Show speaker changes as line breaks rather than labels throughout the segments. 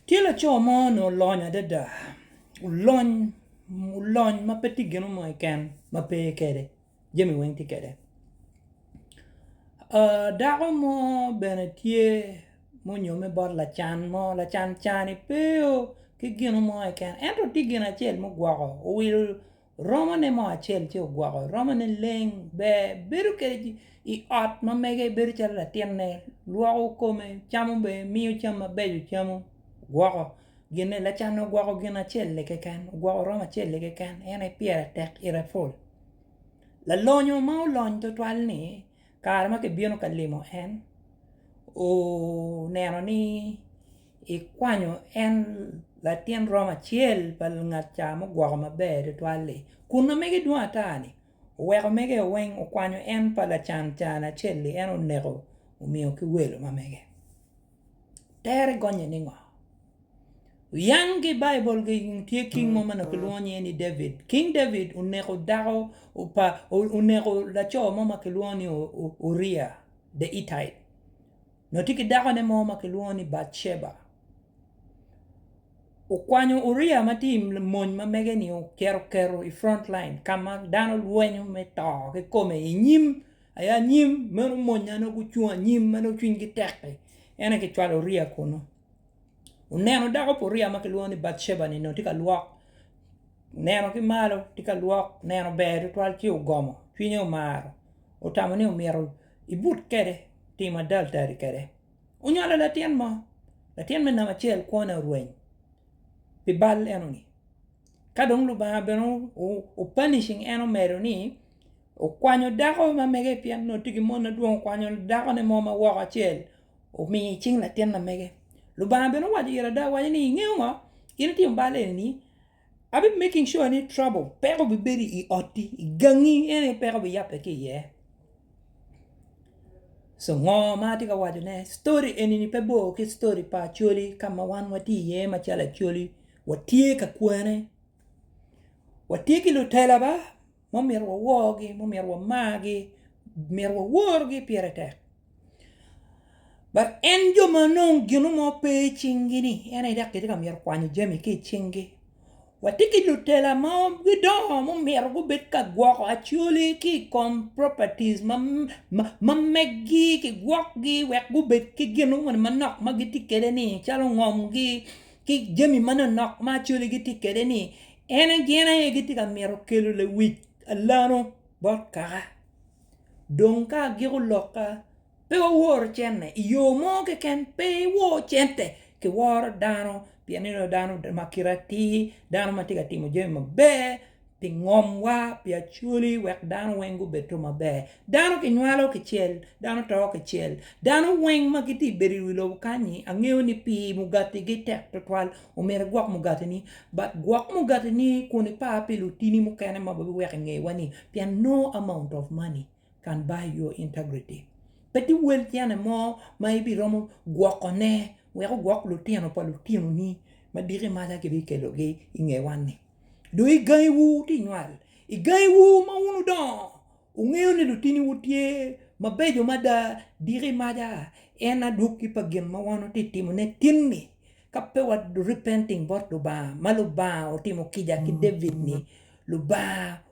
Tye laco mo onongo olony adada, olony olony ma pe tye gino mo keken ma pe kede jami weng tye kede dako mo bene tye ma onyome bot lacan mo lacan cani pe ki gino mo keken ento tye gin acel ma ogwoko owilo Romone mo acel ci ogwoko romone leng ber bedo kede i ot ma mege bedo calo latinne lwoko kome camo bene miyo cam mabeco camo gwoko gine lacanne ogwoko gin acel-li keken ogwoko romo acel-li keken en aye pire tek ite pol lalonyo ma olony twatwal-li kare ma kibino ka limo en oneno ni Ikwanyo en latin rom acel pa lungat ca mugwoko maber tutwal-li, kun omege dwong ata-ni oweko omege-o weng okwanyo en pa lacan can acel-li, en oneko omiyo ki welo ma mege. Tere gonnye ni ngo? Wuyang ki i Baibul tye king mo ma nongo kilwongo nyinge ni David. King David oneko dako pa oneko laco mo ma kilwongo ni Uria the Hittite. Nongo tye ki dakone mo ma kilwongo ni Batceba. Okwanyo Uria ma tye i mony ma mege-ni ocito oketo i front line ka ma dano lwenyo me to kikome i nyim aye anyim meno monya nongo gucung anyim ma nongo cwinygi tek-ki en aye kicwalo Uria kunu. Oneno dako pa Uria ma kilwongo ni Batceba-ni nongo tye ka lwok oneno ki malo tye ka lwok oneno ber tutwal ci ogomo cwinye omaro otamo ni myero Ibut kede, tim adaldali kede. Onywalo latin mo, latin me namba acel kwone orweny pi bal enoni. Ka dong Lubanga bene o punishing en omedo ni okwanyo dako ma mege pien nongo tye ki mon madwong okwanyo dakone mo ma woko acel omiyo i cing latin ma mege. Lubanga bene owaco ira ada owaco ni ingeyo ngo? In itimo bal enini. Abi making sure ni trouble peko obi bedi i otti i gangi ene aye peko obi yabbe ki iye. So ngo ma atye ka waco ne story eni ni pe bor ki story pa Acholi ka ma wan watye iye ma calo Acholi watye ka kwene watye ki lutela ba. ma omyero waworgi, ma omyero wamargi, myero waworgi pire tek. But en jo ma nongo gino mo pe i cinggi-ni, en aye dok kitye ka myero kwanyo jami ki i cinggi. Watye ki lutela ma gidongo ma omyero gubed ka gwoko acwali ki i kom properties ma ma meggi kigwokgi wek gubed ki gin moni manok ma gitye kwede-ni calo ngomgi. ki jami manonok ma Acholi gitye kede ni en gin aye gitye ka mito kelo lewic alano bot kaka dong ka agiko lokka pe waworo cente i yo mo keken pe iwor cente kiworo dano pien inongo dano ma kite atir dano ma tye ka timo jami maber pi ngomwa pi acholi wek dano weng gubed to maber dano ki nywalo ki cel dano to ki cel dano weng ma giti ibedo i wi lobo kanyi angeyo ni pi mugati gi tek tutwal omyero igwok mugati ni but gwok mugati ni kun ipar pi lutini mukene ma ba biweko inge wa ni pien no amount of money Can by your integrity. Pe tye wel tyene mo ma ibiromo gwokone wek ogwok lutino pa lutinoni ma diki maca kibikelogi i ngewa-ni. Dong i gangiwu wutye ka nywal, i gangiwu ma wun wudongo, wungeyo ni lutiniwu tye mabeco mada diki maca en adwoki pa gin ma wan watye ka timone tin-ni. Ka pe wa repenting bot Lubanga ma Lubanga otimo kica ki David-ni, Lubanga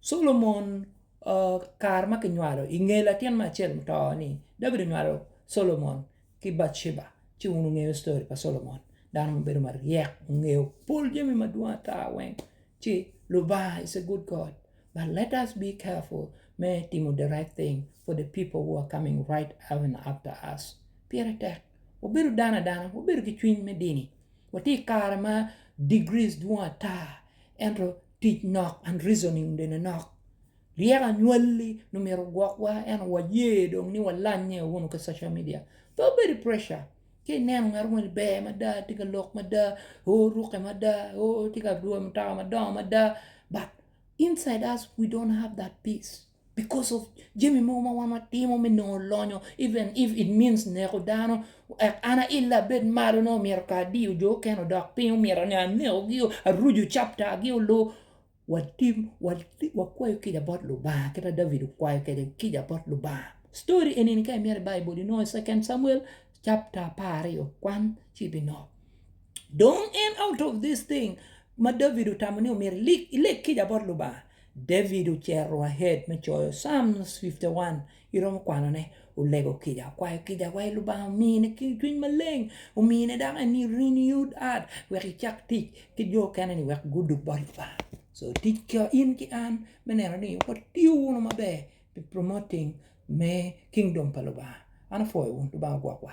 Solomon kare ma kinywalo i nge latin ma acel muto ni David onywalo Solomon ki Batsheba ci wun wungeyo story pa Solomon dano ma bedo maryek ongeyo pol jami madwong ata weng ci Lubanga is a good God but let us be careful me timo the right thing for the people who are coming right even after us pire tek wabedo dano adana wabedo ki cwiny me dini watye i kare ma degrees dwong ata ento Tic nok, unreasoning, bene nok. Ryeko anywalli nongo myero ogwokwa ento waye dong ni walanye wunu ki social media. Pe wubed i pressure. Ka ineno ngat mo ni ber mada, tye ka lok mada, oo rukke mada, oo tye ka dwoyo mutoka madongo mada but inside us we don't have that peace. because of jami mogo ma wan watimo me nongo lonyo even if it means neko dano ek an aila abed malo ne omyero ka adiyo jo okene odok piny omyero ne anekogi aruju captagi olu watim wati- wakwayo kica bot lubanga kit ma David okwayo kwede kica bot lubanga story enini ka imyero i baibul inongo i second samuel chapter apar aryo kwan ci ibinongo dong en out of this thing ma David otamo ni omyero ilik- ilek kica bot lubanga David ocero wa head me coyo Psalms 51 iromo kwanone, olego kica, okwayo kica wa i Lubanga omine ki cwiny maleng, omine dok en ni renewed heart wek icak tic ki jo okene ni wek gudug bot Lubanga. So tic ka in ki an me neno ni watiyo wunu maber pi promoting me kingdom pa Lubanga. An apwoyo wun, Lubanga ogwok wa.